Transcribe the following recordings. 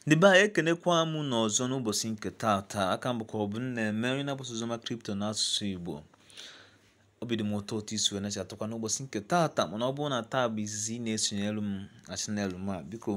ndị be anyị ekenekwa m unu ọzọ n'ụbọchị nke taata aka m bụkwa ọbụmneme onye na-agbasa oziọma kripto n'asụsụ igbo obi dị m ụtọ otu i si wee na-achatụkwa n'ụbọchị nke taata mana ọ bụrụ na taa bụ izizi ị na-esonyere m na channel m a biko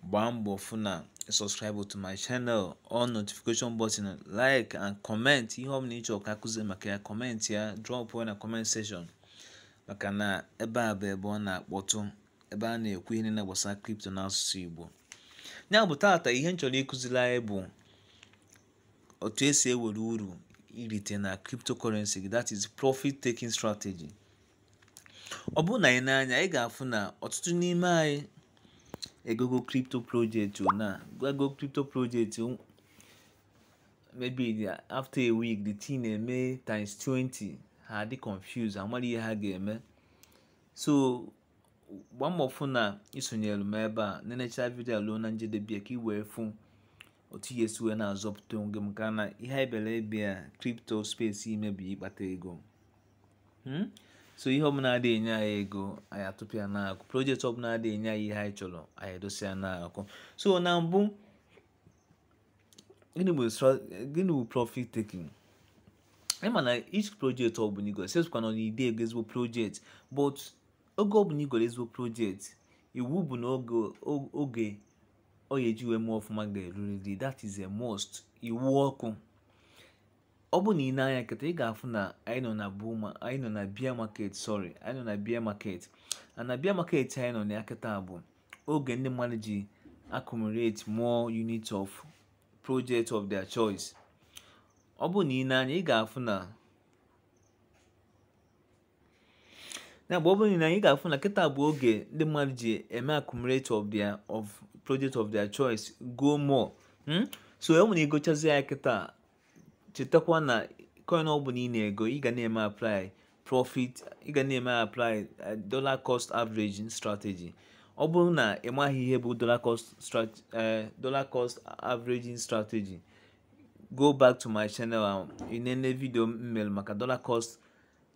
gbaa mbọ fụ na subscribe to my channel on notification button like and comment ihe ọ bụla ị chọrọ ka a kuzie maka ya comment ya drop ya na comment section maka na ebe a bụ ebe ọ na-akpọtụ ebe a na-ekwu ihe niile gbasara kripto n'asụsụ Igbo ya bụ taata ihe m chọrọ ịkụziri anyị bụ otu e si ewere uru i rite na cryptocurrency gị that is profit taking strategy ọ bụrụ na anyị nee anya anyị ga-afụ na ọtụtụ n'ime anyị egogo crypto project na ego crypto project maybe after a week the thing emee times 20 ha dị confused amarọ ihe ha ga-eme so gbaa mbọ fụ na i sonyere m ebe a nenecha vidio ruo na njedebe ka ị wee fụ otu ị ya-esi wee na-azọpụta onwe maka na ihe anyị bịara ebe a kripto space ime bụ ịkpata ego hmm? so ihe ọbụla adị enye anyị ego anyị atụpụ ya n'akụ project ọbụla adị enye anyị ihe anyị chọrọ anyị edosi ya n'akụ so na mbụ gịnị bụ profit taking ị ma na each project ọ bụla i goro sesịkwa na ọ na-ide ego ezigbo project but oge ọ bụla i goro ezigbo project iwu bụ na oge o- oge ọ ga-eji wee mee ọfụma ga-erurịrị that is a must iwu ọkụ ọ bụ na ị nee anya kịta ị ga-afụ na anyị nọ na bull ma anyị nọ na bear market sorry anyị nọ na bear market and na bear market anyị nọ na ya kịta bụ oge ndị mmadụ ji accumulate more unit of project of their choice ọ bụ na ị nee anya ị ga-afụ na na mgbe ọ bụrụ na ị ga-afụ na kịta bụ oge ndị mmadụ ji eme accumulate of their of project of their choice go more hmm? so e nwere i gochazi ya kịta chetakwa na coin ọ bụla ị na-ego ị ga na-eme apply profit ị ga na-eme apply eh, dollar cost averaging strategy ọ bụrụ na ị maghị ihe bụ dollar cost strategy eh, dollar cost averaging strategy go back to my channel ị nene vidio m mere maka dollar cost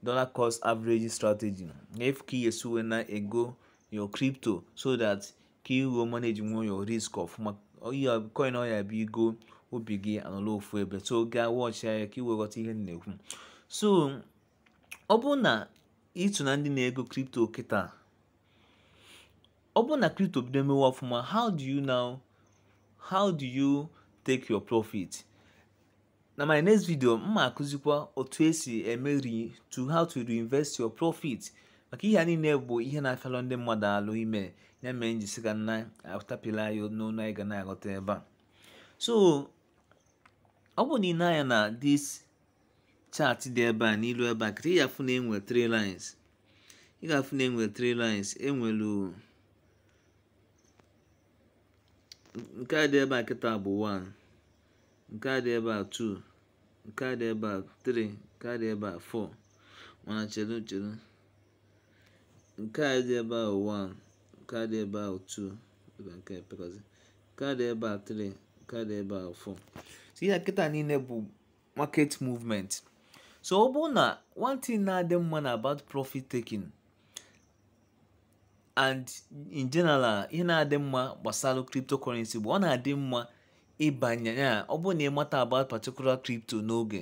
dollar cost averaging strategy ị fụ ka ị ya-esi wee na-ego your crypto so that ka ị wee managewe your risk ọfụma coin ọ ya-abụ i go obi gị anọla ofu ebe so gaa watch ya ka ị wee ghọta ihe m na-ekwu so ọ bụ na ịtụ na ndị na-ego kripto kịta ọ bụ na kripto bido mewe ọfụma how do you now how do you take your profit na my next video m ma akụzikwa otu esi eme re to how to reinvest your profit maka ihe a niile bụ ihe na-afịalụ ndị mmadụ alụ ime ya mee m ji sị ka m na-atapịla ya n'ọnụ anyị ga na-aghọta ebe a so ọ bụrụ na i nee anya na this chart dị ebe a n'ilu ebe a kịta ị ga-afụ na enwe three lines ị ga-afụ na enwe three lines enwelu nke a dị ebe a kịta bụ 1 nke a dị ebe a 2 nke a dị ebe a 3 nke a dị ebe a 4 mana chere chere nke a dị ebe a 1 nke a dị ebe a 2 nke a pekọzi nke a dị ebe a 3 nke a dị ebe a 4 so ihe kịta niile bụ market movement so ọ bụrụ na one thing na-adị mma na about profit taking and in general ihe na-adị mma gbasalụ cryptocurrency bụ ọ na-adị mma ịbanye ya ọ bụrụ na ị mata about particular crypto n'oge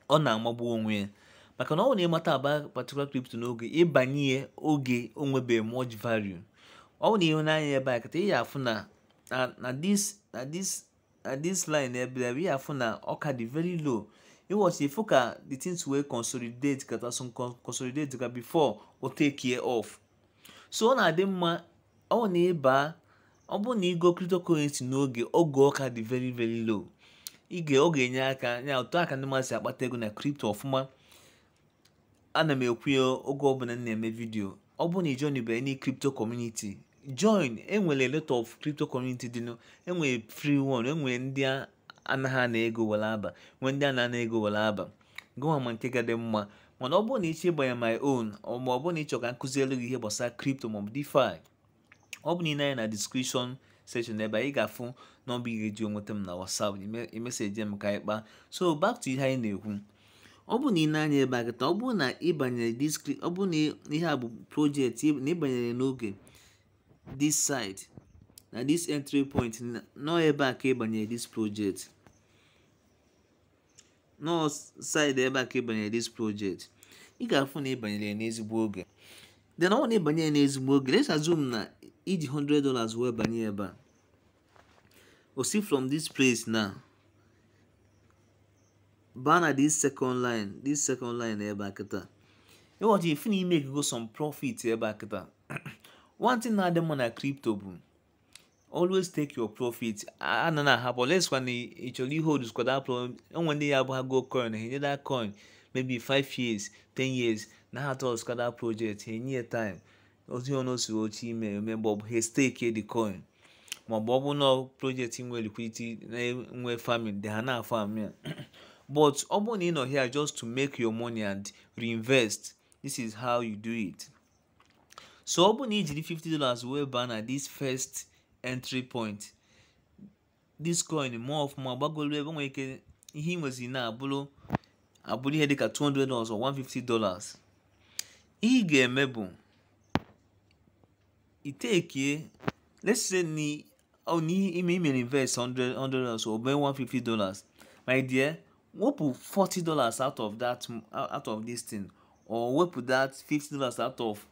ọ na-amagbu onwe ya maka na ọ bụrụ na ị mata about particular crypto n'oge ị banye ya oge o nwebe much value ọ bụrụ na i nee anya ebe a kịta ị ya-afụ na na this na this na this line ebe a ị ya-afụ na ọ ka dị very low ị watch ị fụ ka the things wee consolidate kata so consolidate ka before o takie off so ọ na-adị mma ọ bụ na ị baa ọ bụrụ na ị go cryptocurrency n'oge oge ọ ka dị very very low ige ọ ga-enye aka ya otu aka ndị mmadụ si akpata ego na crypto ọfụma ana m ekwu ya oge ọbụla m na-eme video ọ bụrụ na ị joinbe any crypto community join enwere a lot of crypto community dịnụ enwere free one enwere ndị anaghị ana ego were aba nwee ndị a na-ana ego were aba gụwa ma nke ga-adị mma mana ọ bụrụ na ị chọ ịbanye my own ma ọ bụrụ na ị chọ ka m kụzielụ gị ihe gbasara crypto maọbụ DeFi ọ bụ na i nee anya na description section ebe a ị ga-afụ nọmba ị ga-eji enweta m na WhatsApp ị messagee m ka anyị kpaa so back to ihe anyị na-ekwu ọ bụ na i nee anya ebe a kịta ọ bụrụ na ị banyere this cry ọ bụrụ na ihe a bụ project na ị banyere n'oge this side na this entry point nọ ebe a ka ị banyere this project nọ side ebe a ka ị banyere this project ị ga-afụ na ị banyere ya n'ezigbo oge then ọ bụ na ị banye ya n'ezigbo oge let's assume na i ji 100 dollars wee banye ebe a o si from this place na baa na this second line this second line ebe a kịta ị watch ị fụ na ị makego some profit ebe a kịta one thing na-adị mma na crypto bụ always take your profit ana na ahapụ unless kwa na ị chọrọ ihold kwa that project e nwe ndị ya abụ ha go coin ha enye that coin maybe 5 years 10 years na ha trust kwa that project ha enye ya time ozi ọnụ osiri oche ime eme mgbe ọ bụ ha stake the coin ma ọ bụ ọ bụ na project nwe liquidity nwe farming dị ha na-afarm but ọ bụrụ na ị nọ here just to make your money and reinvest this is how you do it. so ọ bụrụ na i jiri 50 dollars wee baa na this first entry point this coin mee ọfụma gbagolu ebe nwere ike ihe ị nwezi na-abụrụ abụrụ ihe dịka 200 dollars or 150 dollars ihe ị ga-eme bụ ị take let's say na ọ na ime i mere invest 100 100 dollars or mee 150 dollars my dear wepụ 40 dollars out of that out of this thing or wepụ that 50 dollars out of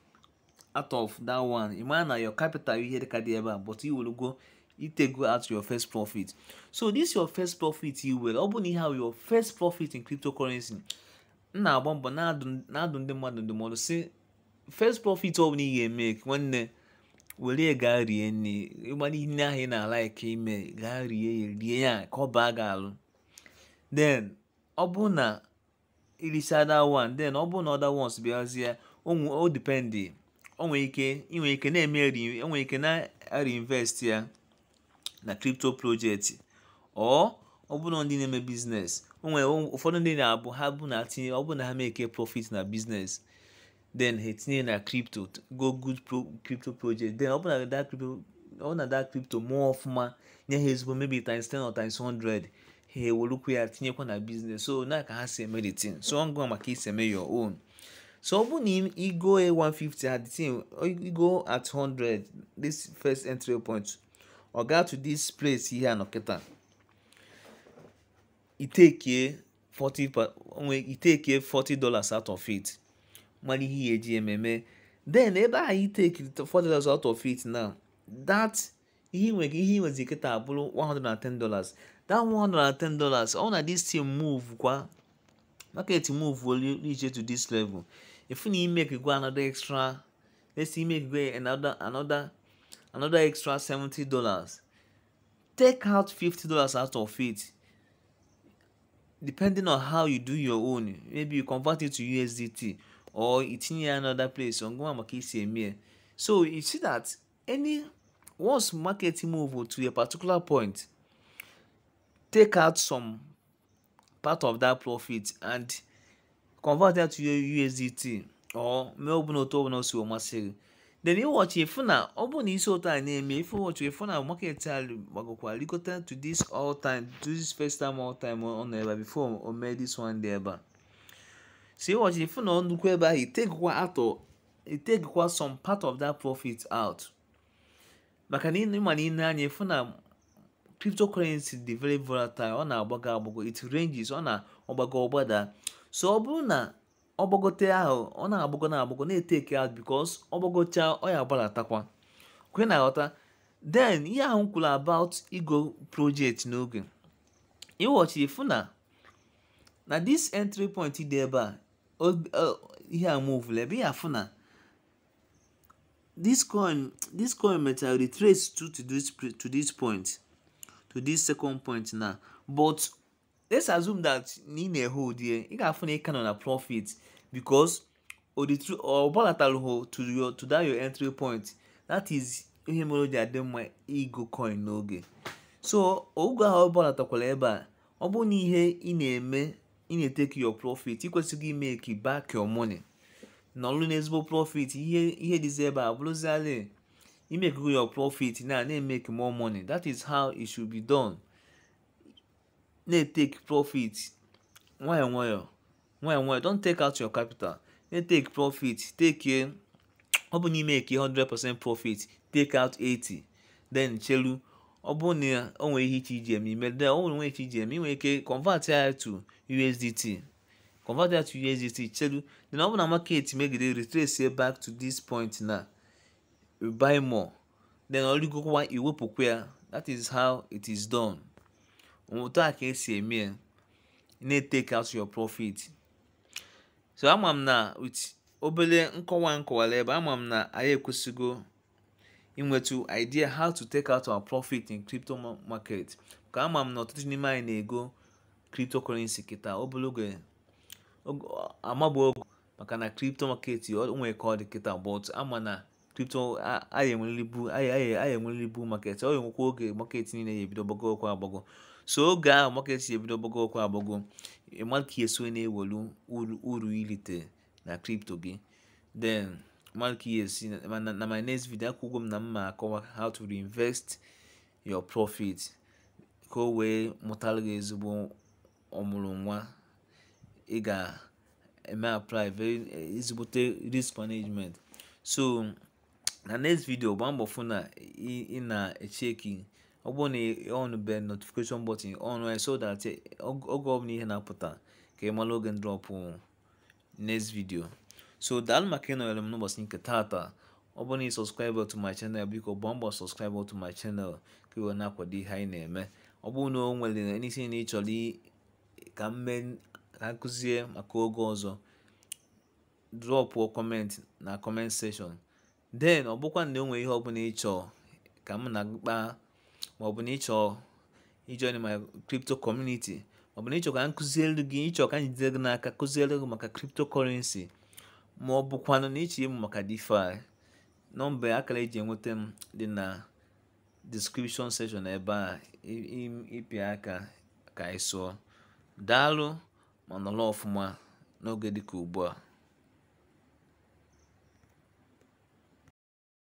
out of that one ị mara na your capital ihe dịka dị ebe a but i welugo ị takego out your first profit so this your first profit i welu ọ bụ na ihe ahụ your first profit in cryptocurrency m na-agba mbọ na-adụ ndị mmadụ ndụmọdụ sị first profit ọ bụla ị ga-eme nwanne were ya gaa rie nri ihe niile ahụ ị na-alike ime gaa rie ya rie ya ka ọ baa gị alụ then ọ bụ na i risịa that one then ọ bụ na other ones bịazie o dependị o nwere ike i nwe ike na-eme o nwere ike na-reinvest ya na crypto project or ọ bụrụ na ndị na-eme business o nwere ụfọdụ ndị na-abụ ha bụ na tinye ọ bụrụ na ha make profit na business then ha etinye na crypto go good crypto project then ọ bụrụ na that crypto ọ na that crypto mee ọfụma nye ha ezigbo maybe times 10 or times 100 ha ewerukwu ya tinyekwa na business so na ka ha si eme the thing so ọ gị nwa ma ka i si eme your own so ọ bụrụ na i go at 150 at the same i go at 100 this first entry point ọ gaa to this place ihe a nọ kịta ị take 40 onwe ị take 40 dollars out of it mara ihe ị ya-eji eme eme then ebe a ị takiri 40 dollars out of it now that ihe nwere ihe ị nwezi kịta abụrụ 110 dollars that 110 dollars ọ na this thing move kwa market move olu ije to this level if na i mego another extra let's say i mego another another another extra 70 dollars take out 50 dollars out of it depending on how you do your own maybe you convert it to usdt or i tinye another place gị nwa ma ka i si eme so you see that na once market move to a particular point take out some part of that profit and convert that to your USDT or mee ọbụla otu ọbụla si masị gị then ị watch ị fụ na ọ bụrụ na i si otu a na-eme ife ị watch ị fụ na market a gbagokwa likọta to this all time to this first time all time ọ nọ ebe before o mee this one dị ebe a so ị watch ị fụ na ọ nọkwa ebe ahụ ị takekwa out ị takekwa some part of that profit out maka na ị ma na i nee anya ị fụ na cryptocurrency dị very volatile ọ na-agbago agbago it ranges ọ na-agbago ọ gbada so ọ bụrụ na ọ gbagote ahụ ọ na-agbago na-agbago na-etake out because ọ gbagocha ọ ya-agbalatakwa kwa ị na-aghọta then ihe ahụ kwuru about igo project n'oge ị watch ị fụ na na this entry point dị ebe a ihe a move ebe a ị ya-afụ na this coin this coin mechara retrace to to this to this point to this second point now but let's assume that na ị na-ehold ya ị ga-afụ na ị ka nọ na profit because ọ gbalatarọ to your to that your entry point that is ihe mere o ji adị mma igo coin n'oge so oge ahụ ọ gbalatakwara ebe a ọ bụrụ na ihe ị na-eme ị na-etake your profit ị kwesịgo ịmake back your money nọlụ n'ezigbo profit ihe ihe dịzi ebe a bụrụzialị ị makego your profit na na-emake more money that is how it should be done na-etake profit nwayọọ nwayọọ nwayọọ nwayọọ don't take out your capital na-etake profit take ọ bụ na ị make 100% profit take out 80 then chelu ọ bụ na o nwere ihe ị chọ iji eme i mee then o nwerọ ihe ị chọ iji eme i nwee ike convert ya to USDT convert ya to USDT chelu then ọ bụ na market megide retrace back to this point na buy more then o rigokwa i wepụkwa ya that is how it is done otu a ka esi eme ya na-etake out your profit so ama m na with obere nkọwa m kọwara ebe a ama m na anyị ekwesịgo inwetu idea how to take out our profit in crypto market ka ama m na ọtụtụ n'ime anyị na-ego cryptocurrency kịta obere oge amabụ ogo maka na crypto market o nwere ka ọ dị kịta but ama na crypto anyị enweriri bull anyị enweriri bull market ọ ya-enwekwa oge market niile ya-ebido gbagowakwa agbago so oge ahụ market ya-ebido gbagowakwa agbago malụ ka ị ya-esi na-ewelu uru i lite na crypto gị then malụ ka ị ya-esi na my next video ekwugo m na m ya-akọwa how to reinvest your profit ka o wee mụtara gị ezigbo ọmụrụ nwa ị ga eme apply very eh, ezigbote risk management so na next video gbaa mbọ fụ na ị na-echeki ọ bụrụ na on be notification button on eh, so that eh, oge ọbụla ihe na-apụta ka ị mara oge m drọpụ next video so daalụ maka ịnọnyere m n'ụbọchị nke taata ọ bụrụ na ị subscribe to my channel biko gbaa mbọ subscribe to my channel ka ị wee na-akwado ihe anyị na-eme ọ bụrụ na o nwere anything ị chọrọ ka m mee ka m kụzie maka oge ọzọ drọpụọ comment na comment section then ọ bụkwa na o nwere ihe ọbụla ị chọọ ka mụ na gị kpaa ma ọ bụ na ị chọọ ijoin my crypto community ma ọ bụ na ị chọọ ka m kụziere gị ị chọọ ka m jide gị n'aka kụziere gị maka cryptocurrency ma ọ bụkwanụ na ị chọọ ịmụ maka DeFi nọmba akara eji enweta m dị na description section ebe a ị pịa aka ka anyị sụọ daalụ ma nọrọ ọfụma n'oge dịka ugbu a